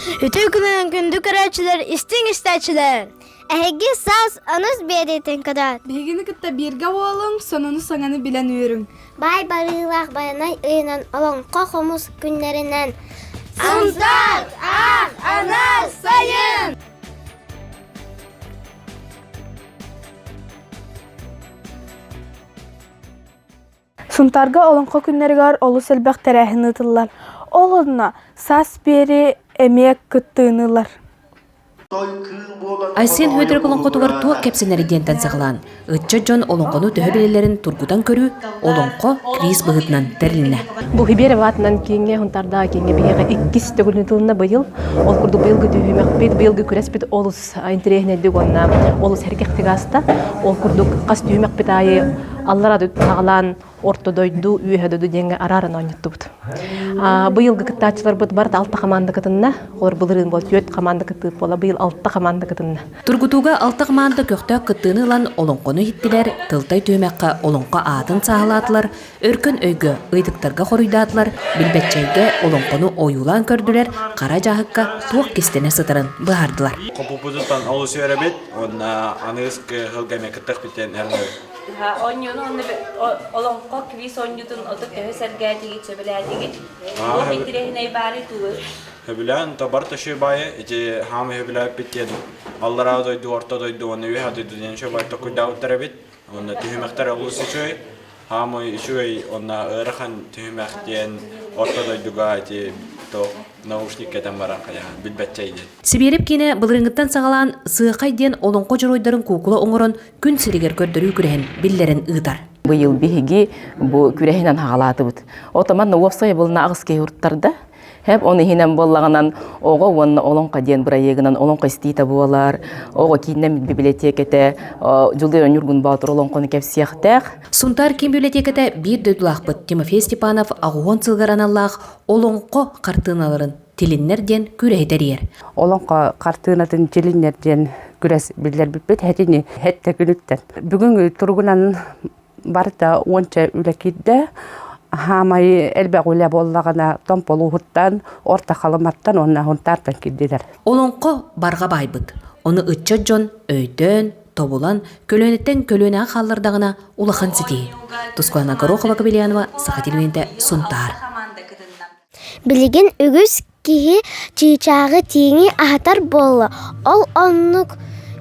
Үтүө күнүн күндү көрөөччүлэр, истиҥ истээччилэр! Эһиги саас аныс биэриитин кытаат. Биһигини кытта бииргэ буолуҥ, сонуну-саҥаны билэн үөрүҥ. Баай барыылаах байанай ыйынан олоҥхо хомус күннэринэн Сунтаар, Аах, Анар, Сайын! Сунтаарга олоҥхо күннэригэр олус элбэх тэрээһин ыытыллар. Ол онно саас биэри эмиэ кыттыынылар. Айсен Хөдөрг олоҥхотугар туох кэпсэнэрий диэнтэн саҕалаан ыччат дьон олоҥхону төһө билэллэрин тургутан көрүү олоҥхо квиз быһыытынан тэрилинэ. Бу Хиберев аатынан киэҥҥэ Хунтардаҕа киэҥҥэ биһиэхэ иккис төгүл ыытылынна быйыл. Ол курдук быйылгы түһүмэхпит, быйылгы күрэспит олус интэриэһинэйдик уонна олус эргэхтик ааста. Ол курдук хас түүмэкпит аайы аллара саҕалаан орто дойду, үөһэ дойду диэҥҥэ арааран оонньуттубут. Быйылгы кыттааччыларбыт барыта алта хамаанда кытынна. Олор былырыын буола түөрт хамаанда кыттыыт буола быйыл алта хамаанда кытынна. Тургутууга алта хамаанда көхтөөх кыттыыны ылан олоҥхону иһиттилэр, тылтай түһүмэххэ олоҥхо аатын сааһылаатылар, Өркөн өйгө, ыйытыктарга хоруйдаатылар, билбэччэйгэ олоҥхону ойуулаан көрдүлэр, хара дьааһыкка суох кистэнэ сытарын быһаардылар. Хопуппутуттан олус үөрэбит уонна аныгыс кыһылга эмиэ кыттыахпытын эрэнэбит. Быһа оонньууну уонна олоҥхо квиз оонньуутун отут төһө сэргээтигит, сөбүлээтигит? Туох интириэһинэй баарый туур? Сөбүлээн Табар Ташибаайы ити хаама сөбүлээппит диэн аллараа дойду, орто дойду уонна үөһээ дойду диэн сөбү токуйдаабыттар эбит. Уонна түһүмэхтэр олус үчүгэй. Хаамыы үчүгэй уонна ыарахан түһүмэх диэн орто дойдуга ити наушник кэтэн баран билбэтчэ иде. Сибиэрэп киинэ былырынгыттан саҕалаан Сыахай диэн олоҥхо дьоруойдарын куукула оҥорон күн сиригэр көрдөрүү күрэһин биллэрэн ыытар. Быйыл биһиги бу күрэһинэн хаҕалаатыбыт. Отоман уопсай былына аҕыс киһи урттарда. Хэп он иһинэн буоллаҕынан оҕо уонна олоҥхо диэн бырайыагынан олоҥхо истиitä буолар, оҕо кииннэмит библиотеката Дьулуй Өнньүргүн Боотур олоҥхону кэпсиэхтээх. Сунтаар киин библиотеката биир дойдулаахпыт Тимофей Степанов аҕуһуон сылгар аналлаах олоҥхо хартыыналарын тилиннэр диэн күрэһи тэрийэр. Олоҥхо хартыынатын тилиннэр диэн күрэс биллэрбиппит этини этте күнүттэн. Бүгүн туругунан барыта уонча үлэ киирдэ. Хаамай элбэх үлэ буоллаҕына Томполууһуттан, Орто Халыматтан уонна Хунтаартан киирдилэр. Олоҥхо барҕа баайбыт. Ону ыччат дьон өйдөөн, тобулан, көлүөнэттэн көлүөнэҕэ хааллардаҕына улахан ситиһии. Тускуана Горохова-Кобельянова, Саха телевидения, Сунтаар. Билигин үгүс киһи чыычааҕы тииҥи аһатар буолла, ол оннук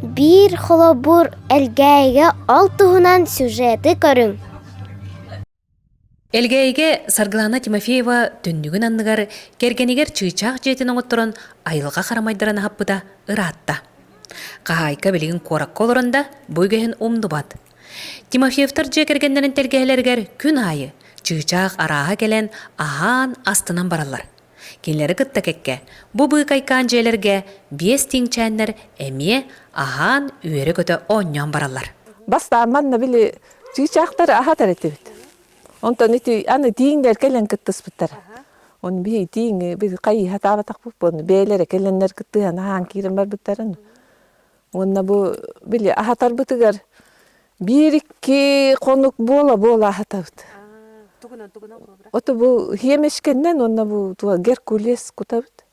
биир холобур Элгээйигэ ол туһунан сюжеты көрүҥ Элгээйигэ Саргылана Тимофеева түннүгүн анныгар кэргэнигэр чыычаах дьиэтин оҥотторон айылҕа харамайдарын аһаппыта ыраатта. Хаһаайка билигин куоракка олорон да бу үгэһин умнубат. Тимофеевтар дьиэ кэргэннэрин тэлгэһэлэригэр күн аайы чыычаах арааһа кэлэн аһаан астынан бараллар. Кинилэри кытта кэккэ бу быыкайкаан дьиэлэргэ биэс тииҥчээннэр эмиэ аһаан үөрэ-көтө оонньоон бараллар. Бастаан манна били чыычаахтары аһатар этибит. Онтон ити аны тииҥдэр кэлэн кыттыспыттар. Оны бии тииҥ біз хайы хатаабатахпыт буону бээлere келлендер кыттыһан аһаан киирэн барбыттарын Уонна бу били аһатарбытыгар биир-икки хонук буола-буола аһатабыт. Тугунан тугунан кылабыра? Ото бу хиэмэшкэннэн уонна бу туга геркулес кутабыт.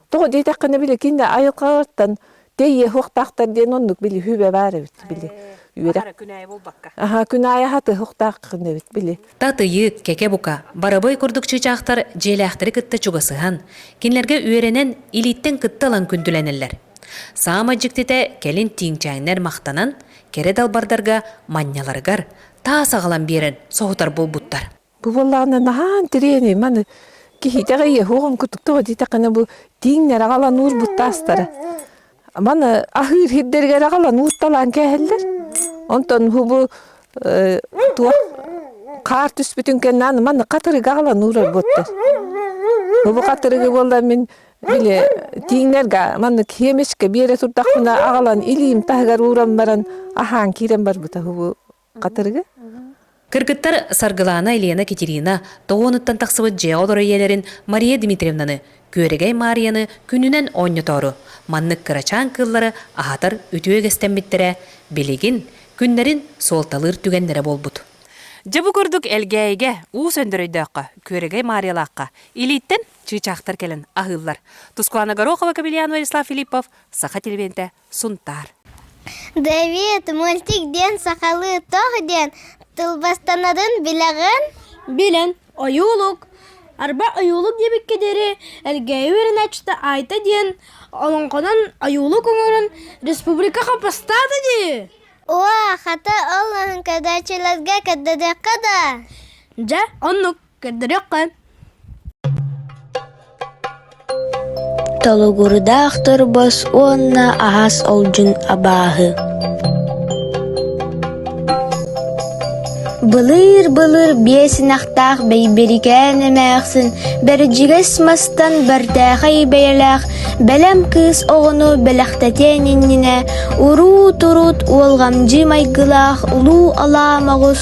Тоҕо диэтэххинэ били кинини айылҕаҕыттан тэйиэ суохтаахтар диэн оннук били хүбэ баар эбит били. Үөрэх күнэйэ буолбакка. Аха күн аайы аһатыһыахтааххын эбит били. Татыйы, кэкэ-бука, барабыай курдук чыычаахтар дьиэлээхтэри кытта чугасыһан, кинилэргэ үөрэнэн, илииттэн кытта ылан күндүлэнэллэр. Саамай дьиктитэ кэлин тииҥчээннэр махтанан, кэрэ далбардарга манньаларыгар таас аҕалан биэрэн соһутар буолбуттар. Бу буоллаҕына наһаа интэриэһинэй маны киһитэҕэ иэһуох оҥкутуктаҕа диэтэххинэ бу тииҥнэр аҕалан уур бу таастара Маны аһыыр ирдэригэр аҕалан уутталаан кээһэллэр. Онтон бу туох хаар түспүтүн кэннэ аны маны хатырыгы аҕалан уурар буоттар. Бу хатырыгы буоллар мин били тииҥнэргэ маннык сиэмечкэ биэрэ турдахпына аҕалан илиим таһыгар ууран баран аһаан киирэн барбыта бу Хатырыгы? Кыргыттар Саргылаана, Елена, Китерина тоһуонуттан тахсыбыт дьиэҕэ-олор ийэлэрин Мария Дмитриевнаны, Күөрэгэй Маарыйаны күнүнэн оонньотоору, маннык кырачаан кыыллары аһатар үтүө үгэстэммиттэрэ, билигин, күннэрин суолталыыр түгэннэрэ буолбут. Дьэ бу курдук Элгээйигэ, Уус Өндөр өйдөөххө, Күөрэгэй Маарыйалаахха, илииттэн чыычаахтар кэлэн аһыыллар. Тускуана Горохова, Кобелян Владислав Филиппов, Саха телевинтэ, Сунтаар. Дэвид, мультик диэн сахалыы тоҕ диэн тылбастанарын билэҕин? Билэн, ойуулук. Арба ойуулук диэбиккэ диэри Элгээйи үөрэнээччитэ Айта диэн олоҥхонон ойуулук оҥорон республикаҕа бастаата дии. Уа, хата ол оһоҥкодааччыларга көрдөрдөххө да. Дьэ, оннук. көрдөрүөххэ Толугурдаахтар бос уонна аһас олдьун абааһы Былыыр-былыр биэсинэхтээх бэйбэрикээн эмээхсин бэрдьигэс мастан бэртээхэй бэйэлээх бэлэм кыыс оҕону бэлэхтэтиэн иннинэ урут-урут уолҕамдьыы майгылаах улуу алаамаҕыс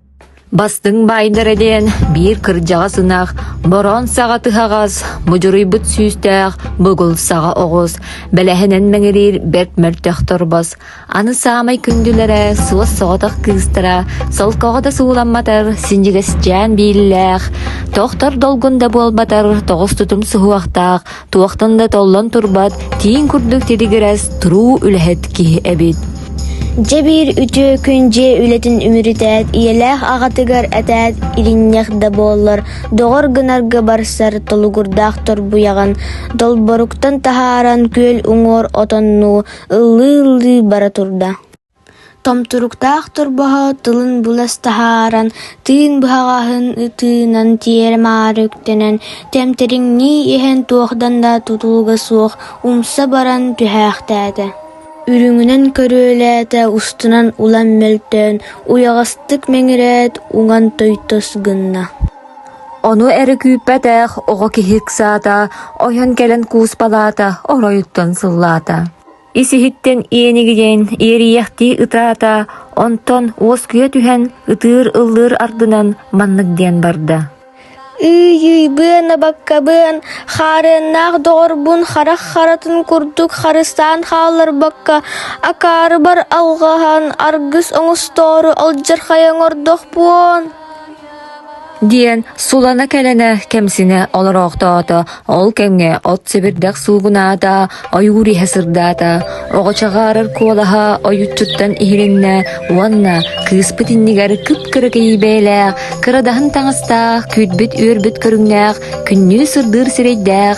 Бастыҥ баайдара диэн биир кырдьаҕас ынах, бороон саҕа тыһаҕас, мудьуруйбут сүүстээх бугул саҕа оҕус, бэлэһинэн мэҥириир бэрт мөлтөх торбос, аны саамай күндүлэрэ суос соҕотох кыыстара, солкоҕото сууламматар синньигэсчээн бииллээх, тохтор долгун да буолбатар тоҕус тутум суһуохтаах Туохтан да толлон турбат, тиин курдук титигирэс, туруу үлэһит киһи эбит. Дьэ биир үтүө күн дьиэ үлэтин үмүрүтээт, ийэлээх аҕатыгар этээт, иринньэх да буоллар, доҕор гынарга барсар толугурдаах торбуйаҕын долборуктан таһааран күөл уҥуор отоннуу, ыллыы-ыллыы бара турда. Томтуруктаах торбоһо тылын булас таһааран, тыын быһаҕаһын ытыынан тиэрэ-маары үктэнэн, тэмтэриҥнии иһэн туохтан да тутулуга суох умса баран түһээхтээтэ. Үрүҥүнэн көрүөлээтэ устунан улам мөлтөөн, уйаҕастык мэҥирээт, уҥан тойтос гынна: «Ону эрэ күүппэтэх оҕо киһи ыксаата, ойон кэлэн кууспалаата, оройуттан сыллаата» ис-иһиттэн иэнигийэн иэрийэхтии ытаата, онтон уоскуйа түһэн ытыыр-ыллыыр ардынан маннык диэн барда: Ыы-йыы быана-баккабыан, хаарыаннаах доҕорбун харах харатын курдук харыстаан хаалларбакка, акаарыбар алҕаһан аргыс оҥостоору алдьархайа оҥордохпун. диэн сулана-кэлэнэ кэмсинэ олороохтоото. Ол кэмҥэ от сэбирдэх суугунаата, ойуур иһэ сырдаата. Оҕочаҕаарар куолаһа ойуччуттан иһилиннэ уонна кыыспыт иннигэр кып-кыракый бэйэлээх, кырадаһын таҥастаах, күүтбүт үөрбүт көрүҥнээх, күннүү сырдыыр сирэйдээх,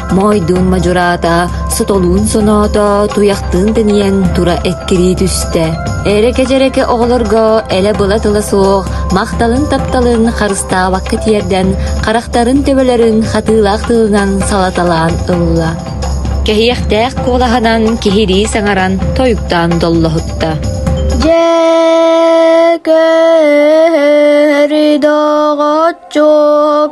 Моойдуун мадьураата сотолуун соноото, туйахтыын тэнийэн тура эккирии түстэ. Эрэкэ-дьэрэкэ оҕолорго элэ-была-тыла суох махталын-тапталын харыстаабакка тиэрдэн, харахтарын төбөлөрүн хатыылаах тылынан салаталаан ылла. Кэһиэхтээх куолаһынан киһирии саҥаран тойуктаан доллоһутта. Дьэ, көрдөҕөччүк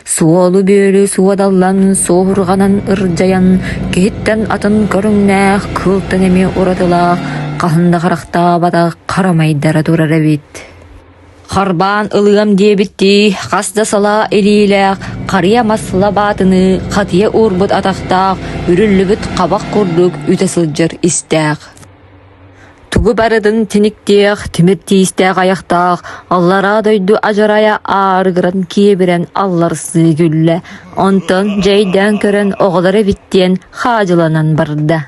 Суолу-бүөлү суодаллан, суоһурҕанан ырдьайан, киһиттэн атын көрүҥнээх кыылтан эмиэ уратылаах, хаһан да харахтаабатах хара майдара турар эбит. Харбаан ылыам диэбиттии, хас да салаа илиилээх, харыйа мас лабаатыныы хатыйа уурбут атахтаах, үрүллүбүт хабах курдук үтэ сылдьар истээх. Тугу барытын тиниктиэх, тимир тиистээх айахтаах аллараа дойду адьарайа аарыгыран киэбирэн алларсыы күллэ, онтон дьэйдээн көрөн оҕолор эбит диэн хаадьыланан барда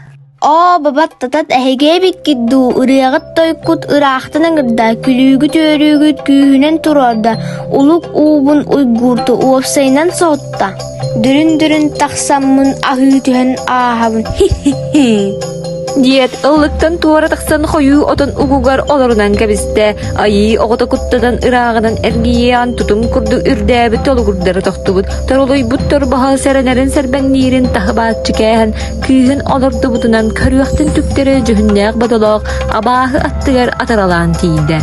оо бабаттатат эһиги эбиккит дуу ырыаҕыт тойкут ыраахтан ыҥырда күлүүгүт үөрүүгүт күүһүнэн туруорда улук уубун уйгуурту уопсайынан соһутта Бүрүн-бүрүн тахсаммын аһыы түһэн ааһабын диэт ыллыктан туора тахсан хойуу отон угугар олорунан кэбистэ айыы оҕото куттанан ырааҕынан эргийиээн тутум курдук үрдээбит толугурдара тохтубут торолуйбут торбоһо сэрэнэрин сэрбэҥниирин таһы бааччы кээһэн кыыһын олордубутунан көрүөхтэн түктэрэ дьүһүннээх бодолоох абааһы аттыгар атаралаан тиийдэ.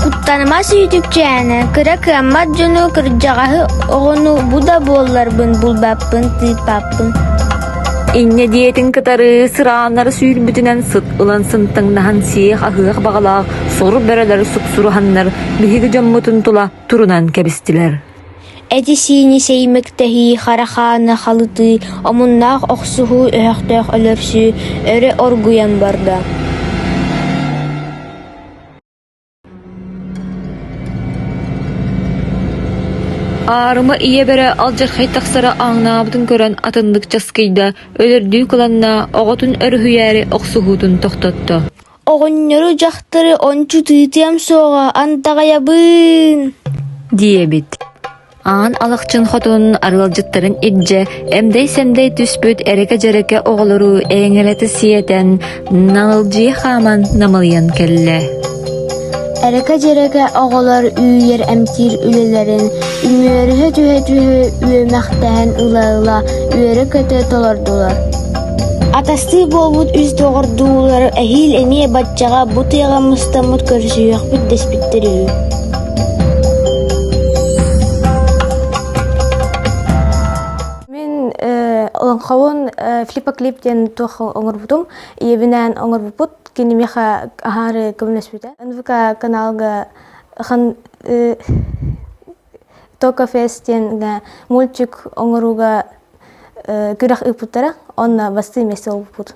Куттаныма сүүтүкчээнэ, кыра кыаммат дьону, кырдьаҕаһы оҕону бу да буолларбын булбаппын, тыыппаппын. Инньэ диэтин кытары сырааннары сүүрбүтүнэн сыт ылан сынтаҥнаһан сиэх аһыах баҕалаах сору бөрөлөр суксуруһаннар биһиги дьоммутун тула турунан кэбистилэр. Эти-сиини сэйимэктэһии, харахааны халытыы, омуннаах охсуһуу өһөхтөөх өлөрсүү өрө оргуйан барда Аарыма ийэ-бэрэ алдьархай тахсара ааҥнаабытын көрөн атыннык часкыйда, өлөрдүү кыланна, оҕотун өрүһүйээри охсуһуутун тохтотто Оҕонньору дьахтары ончу тыытыам суоҕа андаҕайабын диэбит аан Алахчын хотун арыалдьыттарын илдьэ эмдэй-сэмдэй түспүт эрэкэ-дьэрэкэ оҕолору эҥэлэтэ сиэтэн налдьыы хааман намылыйан кэллэ Эрэкэ-дьэрэкэ оҕолор үүйэр эмтиир үлэлэрин үмүөрүһэ түһэ-түһэ үөмэхтэһэн ыла-ыла үөрэ-көтө толордулар. Атастыы буолбут үс доҕордуулар эһиил эмиэ баччаҕа бу тыаҕа мустаммыт көрсүһүөхпүт дэспиттэр үһү Лоҥхобун флипоклип диэн туох оҥорбутум ийэбинээн оҥорбуппут кинимеха аһаары көмнөспүтэ нвк каналга хан токо фестинга мультик оңорууга күрэх ыыппыттара онно бастыы месте болбуппут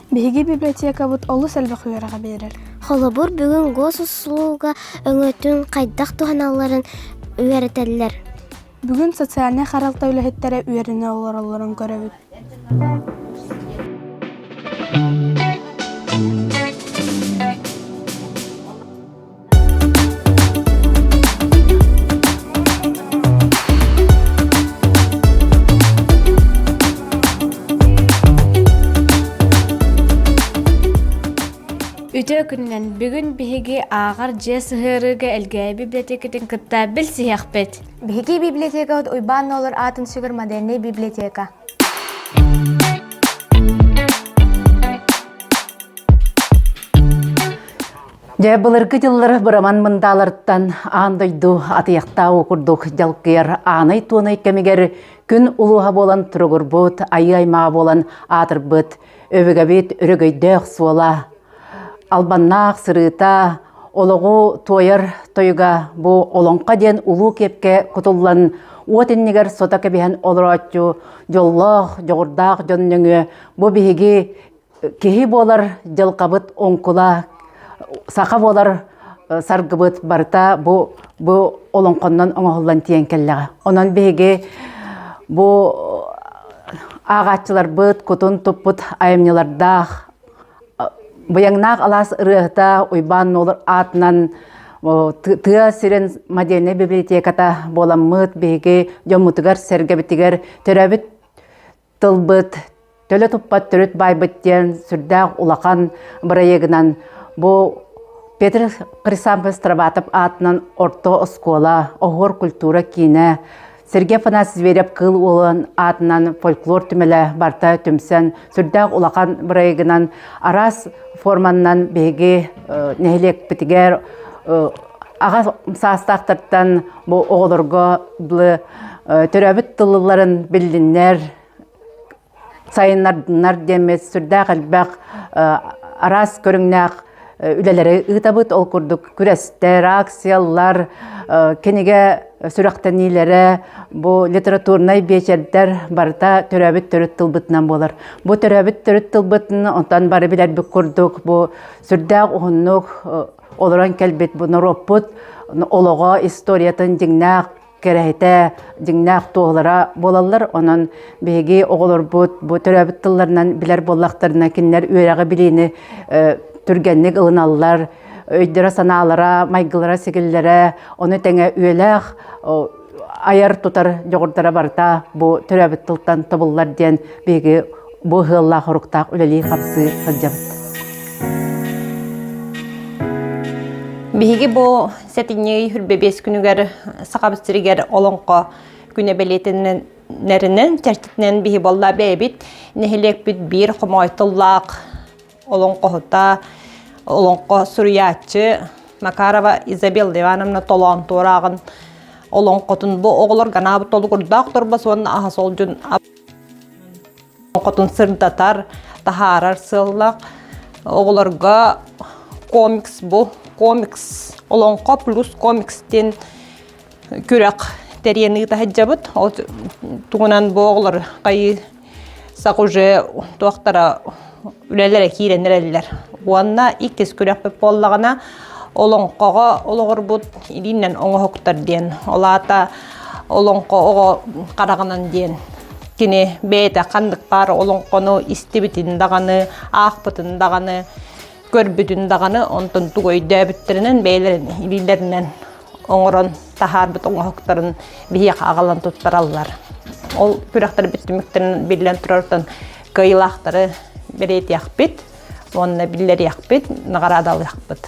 Биһиги библиотекабыт олус элбэх үөрэҕи биэрэр. Холобур, бүгүн госуслуга өҥөтүн хайдах туһаналларын үөрэтэллэр. Бүгүн социальнай харалта үлэһиттэрэ үөрэнэ олороллорун көрөбүт. Үтөө күнүнэн бүгүн биһиги ааҕар дьиэ сыһыарыыга Элгээби библиотекатын кытта билсиһиэхпит. Биһиги библиотека Уйбаан Нолор аатын сүгэр модельный библиотека. Дьэ, былыргы дьыллар быраман мындааларыттан аан дойду атыйахтааҕы курдук дьалкыйар аанай-туонай кэмигэр күн улууһа буолан туругурбут, айыы-аймаҕа буолан аатырбыт өбүгэбит өрөгөйдөөх суола, албаннаах сырыыта, олоҕу туойар тойуга бу Олоҥхо диэн улуу киэпкэ кутуллан уот иннигэр сото кэбиһэн олорооччу дьоллоох, дьоҕурдаах дьон нөҥүө бу биһиги киһи буолар дьылҕабыт оҥкула саха буолар саргыбыт барыта бу бу олоҥхоннон оҥоһуллан тиийэн кэллэҕэ онон биһиги бу ааҕааччыларбыт кутун туппут айымньылардаах быйаҥнаах алаас ырыаһыта Уйбаан Нуолур аатынан тыа сирин модельнай библиотеката буоламмыт биһиги дьоммутугар сэргэбитигэр төрөөбүт тылбыт, төлө туппат төрүт байбыт диэн сүрдээх улахан бырайыгынан бу Петр Хрисанфович Трабатов аатынан орто оскуола, оһуор культура киинэ, Сергей Афанасий Зверев Кыл уолун аатынан фольклор түмэлэ барта түмсэн сүрдээх улахан бырайыгынан араас форманнан биһиги э, нэһилиэкпитигэр э, аҕа саастаахтартан бу оҕолорго төрөөбүт тылларын биллиннэр сайыннарыннар диэммит сүрдээх элбэх араас көрүҥнээх үлэлэри ыытабыт ол курдук күрэстэр акциялар кинигэ сүрэхтэниилэрэ бу литературнай биэчэрдэр барыта төрөөбүт төрүт тылбытынан буолар бу төрөөбүт төрүт тылбытын онтон бары билэрбит курдук бу сүрдээх уһуннук Олорон кэлбит бу норуоппут олоҕо историятын дьиҥнээх кэрэһитэ, дьиҥнээх туоһулара буолаллар. Онон биһиги оҕолорбут бу төрөөбүт тылларынан билэр буоллахтарына, кинилэр үөрэҕи-билиини түргэнник ылыналлар, өйдөрө-санаалара, майгылара-сигиллэрэ, ону тэҥэ үйэлээх айар-тутар дьоҕурдара барыта бу төрөөбүт тылтан тобуллар диэн биһиги бу ыһыаллаах-хоруктаах үлэлии-хамсыы сылдьабыт. Биһиги бу сэтинньи хүрбэбиэс күнүгэр Сахабыт сиригэр олоҥхо күнэ бэлиэтиннэринэн, чэрчитинэн биһи болла бэйэбит нэһилиэкпит биир хомойтыллаах олоҥхоһута, олоҥхо суруйааччы Макарова Изабелла Ивановна толоон туорааҕын олоҥхотун бу оҕолор ганаабыт толугурдаах торбос уонна аһа солдьун олоҥхотун сырдатар, таһаарар сыаллах. Оҕолорго комикс бу комикс олоҥхо плюс комикс диэн күрэх тэрийэн ыыта сылдьабыт. Ол тугунан бу оҕолор хайыы сак уже туохтара үлэлere киирен эрэллер. Уонна иккис күрөхпүт буоллаҕына олоҥхоҕо олоҕурбут илииннэн оҥоһуктар диэн, ол аата олоҥхо оҕо хараҕынан диэн кини бэйэтэ ханнык баар олоҥхону истибитин даҕаны, аахпытын даҕаны, көрбүтүн даҕаны онтон тугу өйдөөбүттэринэн бэйэлэрин илиилэринэн оҥорон таһаарбыт оҥоһуктарын биһиэхэ аҕалан туттараллар. Ол күрэхтэрбит түмүктэрин биллэн турартан кыайыылаахтары бэлиэтиэхпит уонна биллэриэхпит, наҕараадалыахпыт.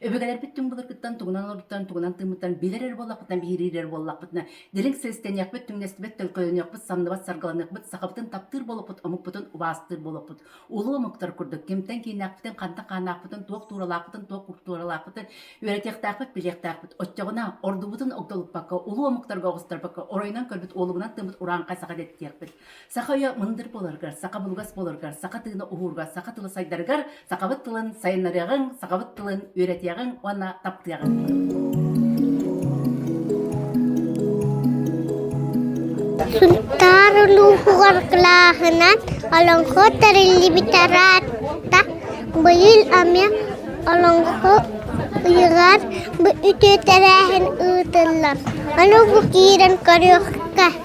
Өбүгэлэрбит түҥ былыргыттан тугунан олорбуттарын тугунан тыыммыттарын билэр эрэ буоллахпытына, биһириир эрэ буоллахпытына, дириҥ силистэниэхпит, түҥнэстибэт, төлкөлөнүөхпут, самныбат саргыланыахпыт, сахабытын таптыыр буолуохпут, омукпутун убаастыыр буолуохпут. Улуу омуктар курдук кимтэн кииннээхпитин, хантан хааннаахпытын, туох тууралаахпытын, туох култууралаахпыт, үөрэтиэхтээхпит, билиэхтээхпит. Оччоҕуна ордубутун огдолуппакка, улуу омуктарга оҕустарбакка, оройунан көрбүт уолугунан тыыммыт урааҥхай саха диэттиэхпит. Саха өйө мындыр боларгар, саха булугас боларгар, саха тыына уһуурга, саха тыла сайдарыгар, сахабыт тылын сайыннарыаҕыҥ, сахабыт тылын үөрэтиэҕиҥ уонна таптыаҕыҥ. Туттар улууһугар кылааһынан Олоҥхо тэриллибитэ ыраатта. Быйыл эмиэ Олоҥхо ыйыгар үтүө тэрээһин ыытыллар. Ону бу киирэн көрүөххэ.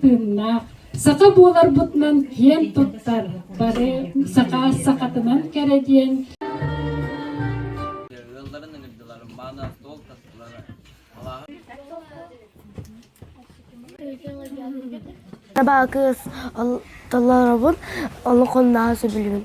тыыннаах саха буоларбытынан киэн туттар бары саха сахатынан кэрэ диэн ыалларын ыҥырдылар мааны толк таттылар Merhaba kız. Allah'ın olukun daha söbülümün.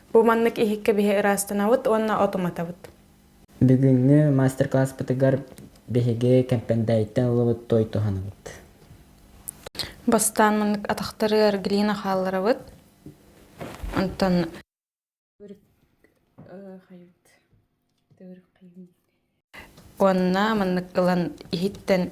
Бу маннык иһик кэбиһэ ыраастанабыт уонна от уматабыт. Бүгүҥҥү мастер-класспытыгар биһиги Кэмпэндээйиттэн ылыбыт туой туһанабыт. Бастаан маннык атахтары эргилиин хаалларабыт. Онтон уонна маннык ылан иһиттэн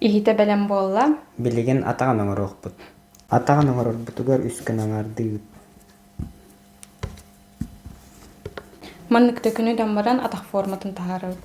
Иһитэ бэлэм буолла Билигин атаҕын оҥоруохпут. Атаҕын оҥорорбутугар үс күн аҥаардыы Маннык да күнү-дам баран атах форматын таһаарабыт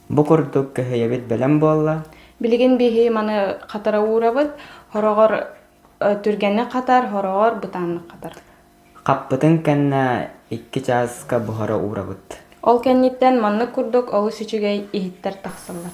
Бу курдук көһүйэбит бэлэм буолла. Билигин биһи маны хатара уурабыт, хороҕор түргэнник хатар, хороҕор бытааннык хатар. Хаппытын кэннэ икки чааска буһара уурабыт. Ол кэнниттэн маннык курдук олус үчүгэй иһиттэр тахсаллар.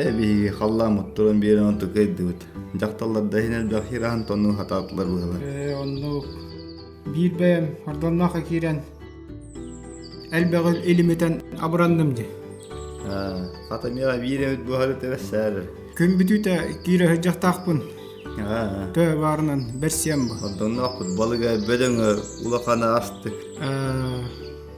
Ээ биһиги халлааммыт туран биэрэн онту кыайдыбыт. Дьахталларда иһин элбэх хираһын тонну хатаатылар быалар. Ээ оннук. Биир бэйэм ордонноохо киирэн элбэҕи илимитэн абыранным ди. Хата миэҕэ биир эмит буһары тэбэссээрэр. Күн бүтүүтэ киирэ сыдьахтаахпын. Төһө баарынан бэрсиэм бу. Ордонноохпут балыга бөдөҥө улахана астык.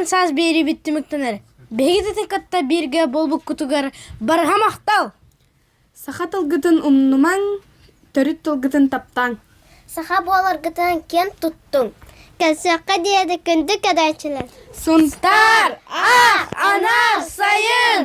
Бунан саас биэрибит түмүктэнер. Биһигитити кытта бииргэ болбуккутугар барҕа махтал! Саха тылгытын умнумаҥ, төрүт тылгытын таптаҥ. Саха буоларгытын киэн туттуҥ. Кэлсиэххэ диэди күндү кэдэчилэр. Сунтаар ах анар сайын!